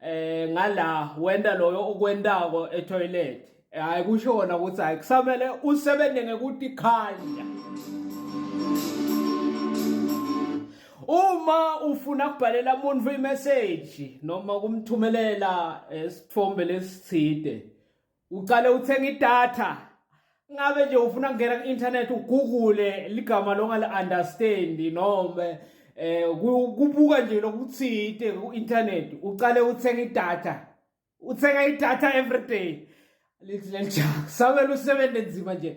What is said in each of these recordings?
eh ngala wenda loyo okwentako etoilet hayi kusho kona ukuthi hayi kusamele usebenze ngekuthi khanya uma ufuna kubhalela umuntu imessage noma kumthumelela eh, isithombe lesithide ucale uthenga idatha ngabe nje ufuna kungena ku-internet ugugule ligama longali-understand noma eh kubuka nje lokuthide ku-internet ucale uthenga idatha uthenga idatha every day leli jaha samele usebenze nzima nje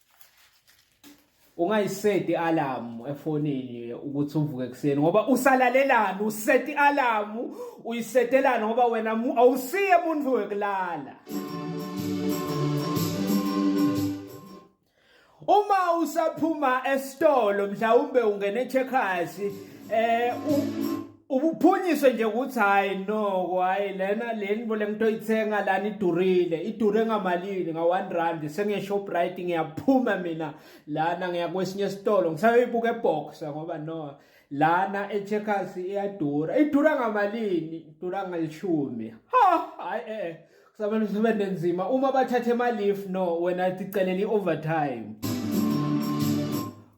ungayiseti alamu efonini ukuthi uvuke ekuseni ngoba usalalelani useti alamu uyisetelani ngoba wena awusiye muntu wekulala uma usaphuma esitolo mhlawumbe ungene checkers eh ubuphunyiswe nje ukuthi hayi noko hayi lena leni bo lento oyithenga lana idurile idure ngamalini nga-one rand sengeshoprite ngiyaphuma mina lana ngiya kwesinye esitolo ngisayoyibuka eboxa ngoba no lana echeckers iyadura idura ngamalini idura ngalishumi ha hayi e-e eh, kusamele usebenze nzima uma bathathe emalif no wena ticelela i-overtime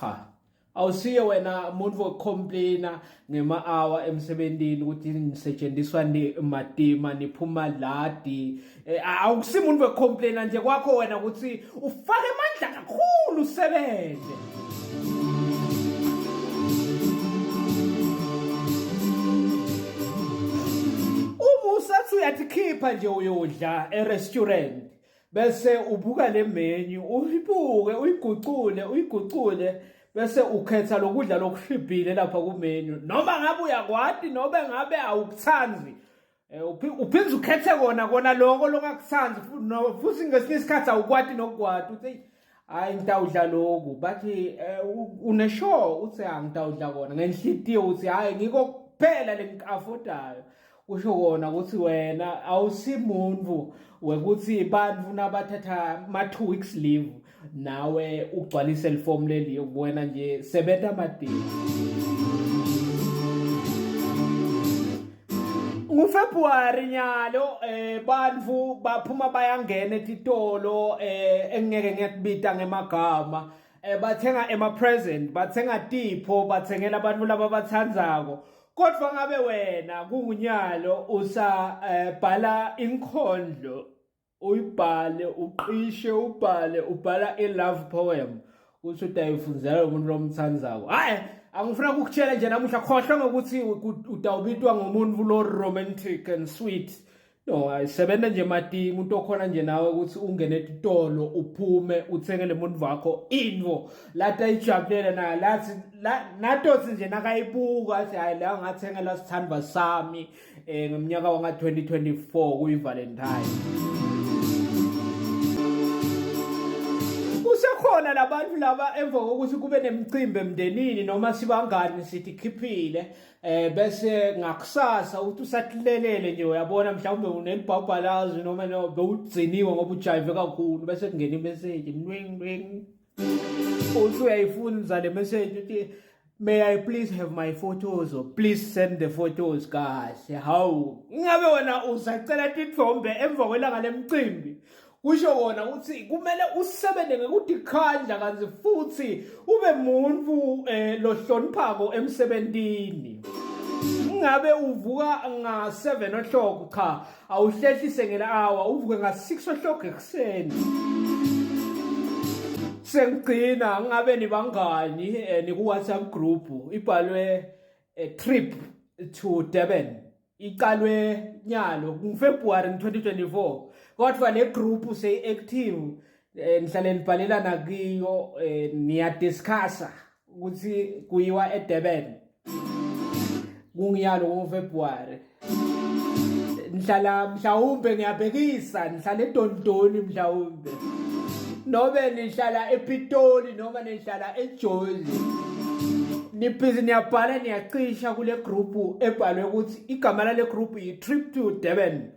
cha awusiye wena umuntu wokucomplaina ngema-hour emsebenzini ukuthi nisetshenziswa matima niphuma ladi eh, awukusi muntu wokucomplaina nje kwakho wena ukuthi ufake amandla kakhulu usebenze uma usathi uyathi khipha nje uyodla e-restaurant bese ubuka le menu uyibuke uyigucule uyigucule bese ukhetha lokudla lokuhlibhile lapha ku menu noma ngabe uyakwati nobe ngabe awukuthandi Eh, uphinde ukhethe kona kona loko longakuthandi futhi ngesinye isikhathi awukwati nokukwati uthi hayi ngitawudla loku bathi eh, uneshow uthi angitawudla kona ngenhlitiyo uthi hayi ngiko kuphela lengikafodayo kusho kona ukuthi wena awusimuntu wekuthi bantu nabathatha ma 2 weeks leave nawe ugcwalise lifomu leli wena nje sebenza amadini NguFebruary nyalo eh bantu baphuma bayangena etitolo eh engeke ngiyakubita ngemagama eh bathenga ema present bathenga tipho bathengela abantu laba bathandzako kodwa ngabe wena kungunyalo usabhala eh, inkondlo uyibhale uqishe ubhale ubhala i-love poem ukuthi udayifunzela umuntu lomthandayo hayi angifuna ukukutshela nje namuhla khohlwa ngokuthi udawubitwa ngomuntu lo romantic and sweet no ayisebenza nje mati umuntu okhona nje nawe ukuthi ungene etitolo uphume uthengele umuntu wakho into lati ayijabulele naye lathi natothi nje nakayibuka athi hayi la ngathengela sithandwa sami eh ngomnyaka wanga 2024 kuyi Valentine kusekhona labantu laba emva kokuthi kube nemicimbi emndenini noma sibangani sithi khiphile eh bese ngakusasa uthi usathilelele nje uyabona mhlawumbe unelibhabhalazi noma no bewugciniwe ngoba ujayive kakhulu bese kungena imessage nwing nwing Uthi uyayifuna umzale message uthi may I please have my photos or please send the photos kahle hawu ingabe wena usacela tithombe emva kwelanga lemcimbi kusho wona ukuthi kumele usebenze ngekudikhandla kanti futhi ube muntu eh, lohloniphako emsebenzini ingabe uvuka nga-7 o'clock cha awuhlehlise ngelawa uvuke nga-six o'clock ekuseni sengigcina ngabe nibangani um eh, niku-whatsapp group ibhalwe eh, trip to durban iqalwe nyalo ngufebruwari 2024 kodwa le group seyi-active um nihlale nibhalelana kiyo um niyadiscussa ukuthi kuyiwa eDurban kungiyalo ngoFebruary ngihlala mhlawumbe ngiyabhekisa ngihlala eDondoni mhlawumbe nobe nihlala ePitoli noma nihlala eJozi nibhizi niyabhala niyacisha kule group ebhalwe ukuthi igama lale group yi trip to Durban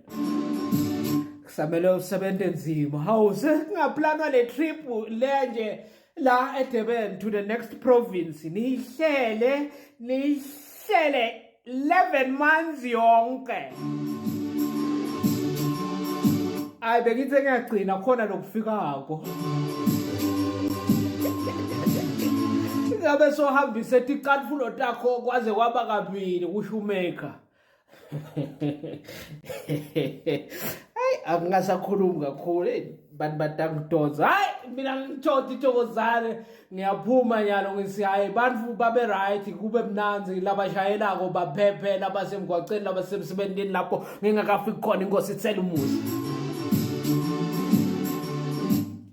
kusamele usebenze nzima hawu sesingaplanwa le trip le nje la eDurban to the next province nihlele nihlele 11 months yonke ayi bengithi ngiyagcina khona lokufikako ngabe sohambise ticatfulo takho kwaze kwaba kabili kusho umaker hayi akungasakhulumi kakhulu eyi bantu badakudonsa hayi mina ngithoda ithokozane ngiyaphuma nyalo ngisi hayi bantu babe-right kube mnanzi labashayelako baphephe labasemgwaceni labasemsebenzini lapho ngingakafiki khona inkosi ithela umuzi